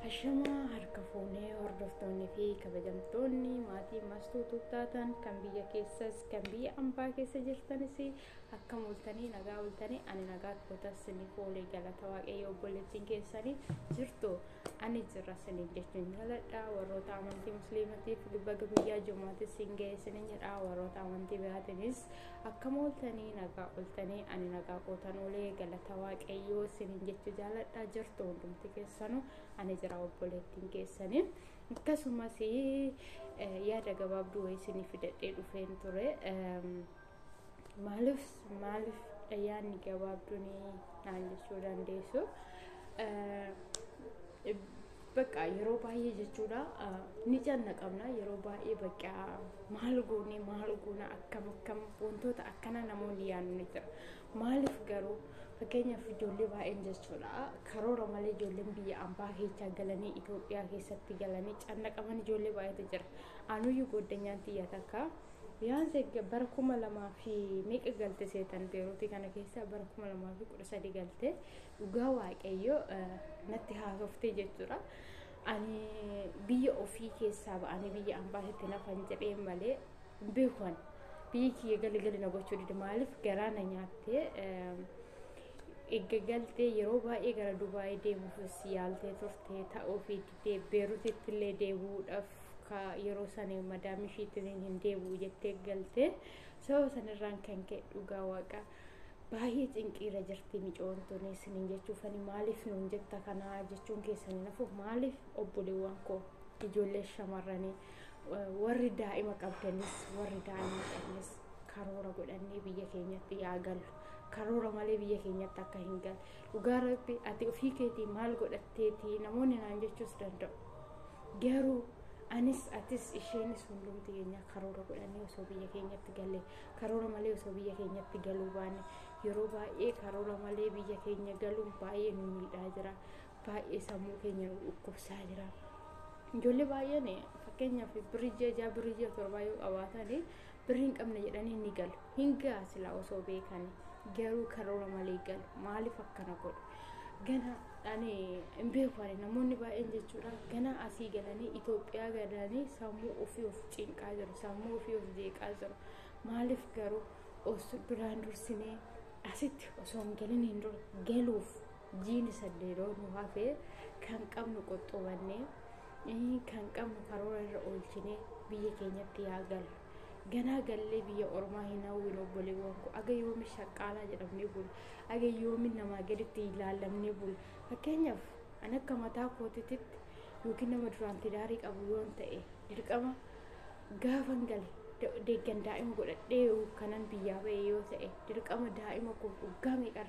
Ashamaa harka fuunee hordoftoonni fi kabajamtoonni maatii mastuu tuuttaatan kan biyya keessas kan biyya ambaa keessa jirtanis akka multanii nagaa bultanii ani nagaa kootas siniif oolee galata waaqayyoo obboleettiin keessanii jirtu ani jirra siniif jechuun jaladha warroota amantii musliimatiif baga guyyaa jumaatis siin ga'ee sinin jedha warroota amantii biraatiinis Akkam ooltanii nagaa ooltanii ani nagaa kootan oolee galata waaqayyoo isiniin jechuu jaaladha jirtu hundumti keessanuu ani jira obboleettiin keessanii akkasumas yaada gabaabduu wayii isinii fidadhee dhufeen ture maaliif maaliif yaadni gabaabduun naan jechuu dandeessu Baqqaa yeroo baay'ee jechuudha ni cannaqamna yeroo baay'ee baqqaa maal goonee maal goona akkam akkam wantoota akkana namoonni yaadu ni jira. Maaliif garuu fakkeenyaaf ijoollee baay'een jechuudha karoora malee ijoolleen biyya ambaa keessaa galanii Itoophiyaa keessatti galanii cannaqaman ijoollee baay'eetu jira. Anuyyuu goodanyaan xiyya takka Biyyaansi bara kuma lamaa fi meeqa galte seetan beeruutii kana keessa bara kuma lamaa fi kudha sadii galte dhugaa waaqayyo natti haasoftee jechuudha. Ani biyya ofii keessaa ba'anii biyya ambaasitti nafan jedhee malee hin beekuan biyyi kiyya galigali na gochuu dide maaliif garaa na nyaattee eegga galtee yeroo baay'ee gara Dubaayii deemuufis yaaltee turte ta'uu fi didee Beerutitti illee deebi'uudhaaf ka yeroo sana madaamii ishiitiin hin deebi'u jettee galtee sababa sanarraan kan ka'e dhugaa waaqaa. baay'ee cinqiirra jirti micoon tuni isiniin jechuuf ani maaliif nuun jetta kanaa jechuun keessanii nafu maaliif obboleewwan koo ijoollee shamarranii warri daa'ima qabdanis warri daa'ima qabdanis karoora godhannee biyya keenyatti yaa gallu karoora malee biyya keenyatti akka hin galle dhugaa rabbi ati ofii keetii maal godhatteetii namoonni naan jechuus danda'u garuu anis atis isheenis hundumti keenya karoora godhannee osoo biyya keenyatti galle Karoora malee osoo biyya keenyatti galuu baanne yeroo baay'ee karoora malee biyya keenya galuun baay'ee nu miidhaa jira. Baay'ee sammuu keenya nu dhukkubsaa jira. Ijoollee baay'een fakkeenyaaf birrii ji'a ja'a birrii ji'a torbaa yoo qabaatan birrii hin qabne jedhanii ni galu. Hin ga'a silaa osoo beekani garuu karoora malee galu. Maaliif akkana godhu? Gana ani hin beeku ani namoonni baay'een jechuudha gana asii galanii Itoophiyaa galanii sammuu ofii of cinqaa jiru sammuu ofii of jeeqaa jiru maaliif garuu os duraan dursinee asitti osoo hin galin hin dura galuuf jiini saddeeroo nu hafee kan qabnu qoxxoobannee kan qabnu karoora irra oolchinee biyya keenyatti yaa galu. ganaa gallee biyya ormaa hin hawwin obboleewwan koo aga yoomi shaqqaalaa jedhamnee bulu Age yoomin namaa gaditti hin laallamnee bul. Fakkeenyaaf an akka mataa kootitti yookiin nama duraan tidaarii qabu yoon ta'e dirqama gaafan gale deeggan daa'ima godhadhee kanan biyyaa ba'e yoo ta'e dirqama daa'ima koo dhugaa meeqa